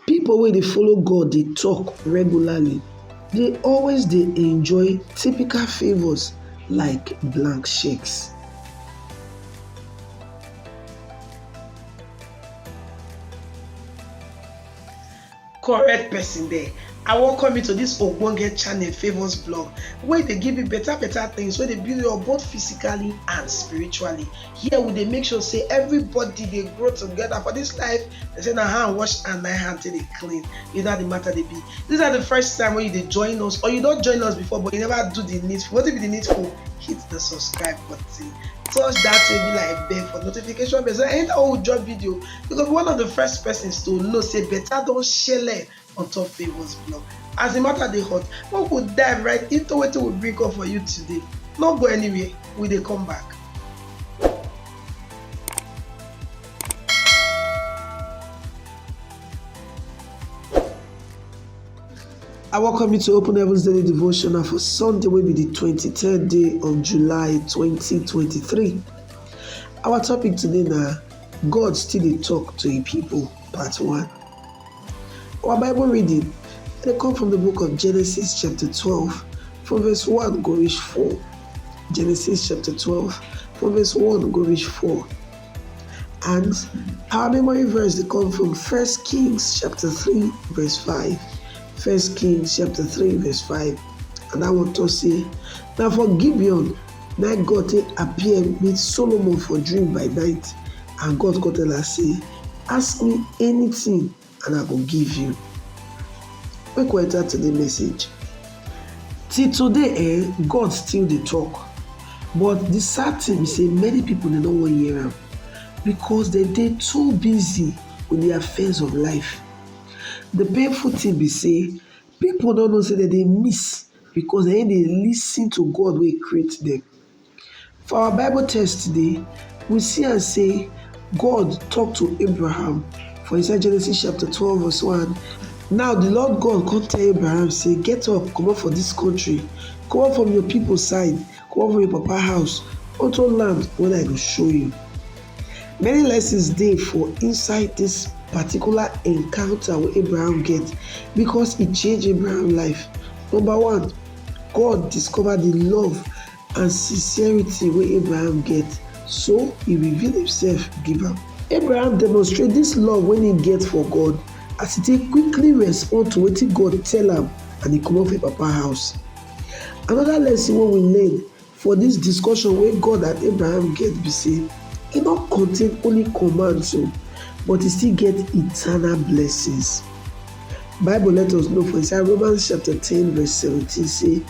Pipo wey dey follow God dey tok regularly dey always dey enjoy typical favours like blank cheques. Correct person there, I welcome you to this ogbonge channel Favours Blog wey dey give you better better things wey dey build you up both physically and spiritually. here we dey make sure say everybody dey grow together for this life they say na hand wash and my hand take dey clean you know how the matter dey be this na the first time wey you dey join us or you don join us before but you never do the needful wetin be the needful hit the subscribe button touch that way be like bell for notification bell so anytime we drop video you go be one of the first persons to know say better don shele on top Favour's blog. As the matter dey hot, make we dive right into wetin we bring come for you today. No go anywhere, we dey come back. I welcome you to Open Heavens Daily Devotional for Sunday, will be the 23rd day of July 2023. Our topic today now God still dey talk to a people, part one. Our Bible reading dey come from the book of Genesis chapter 12 from verse 1 go reach 4. Genesis chapter 12 from verse 1 go reach 4. And our memory verse dey come from First Kings chapter 3 verse 5. First Kings chapter 3 verse 5. And that one talk say, na for Gibeon na God take appear meet Solomon for dream by night, and God come tell am say, Ask me anything and I go give you. Make we enter today message. Till today, eh, God still dey talk. But the sad thing be say many people dey no wan hear am because dem dey too busy with the affairs of life. The painful thing be say people no know say dem dey miss because dem no dey lis ten to God wey create dem. For our Bible text today, we see am say God talk to Abraham for inside Genesis chapter 12 verse 1. Now the Lord God come tell Abraham say, Get up, comot for this country, comot from your people side, comot from your papa house, unto land wey I go show you. Many lessons dey for inside this particular encounter wey Abraham get because e change Abraham life. Number one, God discover the love And sincerity wey Abraham get, so e reveal imsef give am. Abraham demonstrate dis love wey im get for God as e take quickly respond to wetin God tell am and e comot for im papa house. Anoda lesson wey we learn for dis discussion wey God and Abraham get be sey, e no contain only commands o, but e still get eternal blessings. Bible let us know for inside Romans chapter ten verse seventeen sey.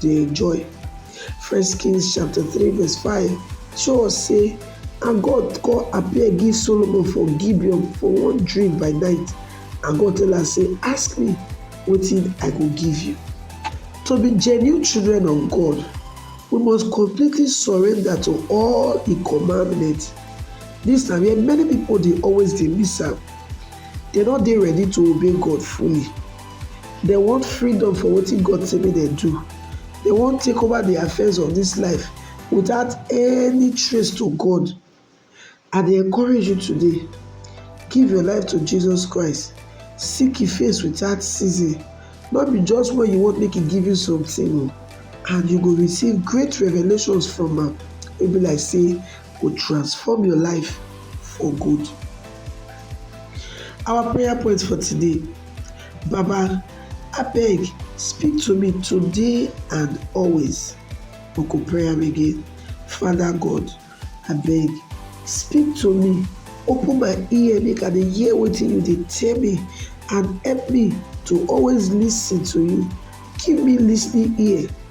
dey enjoy. First Kings chapter three verse five show us say and God come appear give Solomon for Gibeon for one dream by night and God tell am say ask me wetin I go give you. To be genuine children of God, we must completely surrender to all im commandments. Dis na where many pipo dey always dey miss am, dem no dey ready to obey God fully. Dem want freedom for wetin God say make dem do. Dem wan take over the affairs of this life without any trace to God. I dey encourage you today, give your life to Jesus Christ, seek Him face without ceasing, no be just when you want make He give you something o, and you go receive great revelations from am wey be like say go transform your life for good. Our prayer point for today Baba, abeg speak to me today and always. We go pray am again. Father God, abeg speak to me, open my ear make I dey hear wetin you dey tell me and help me to always lis ten to you. Give me lis ten ing ear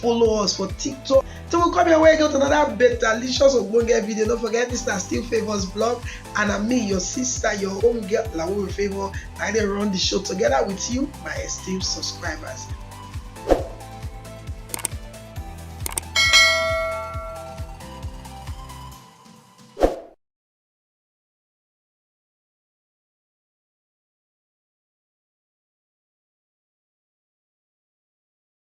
follow us for tiktok till we come your way get another better delicious ogbonge video no forget mr still favours blog and i'm me your sister your own girl lawo favour i dey run the show together with you my esteemed subscribers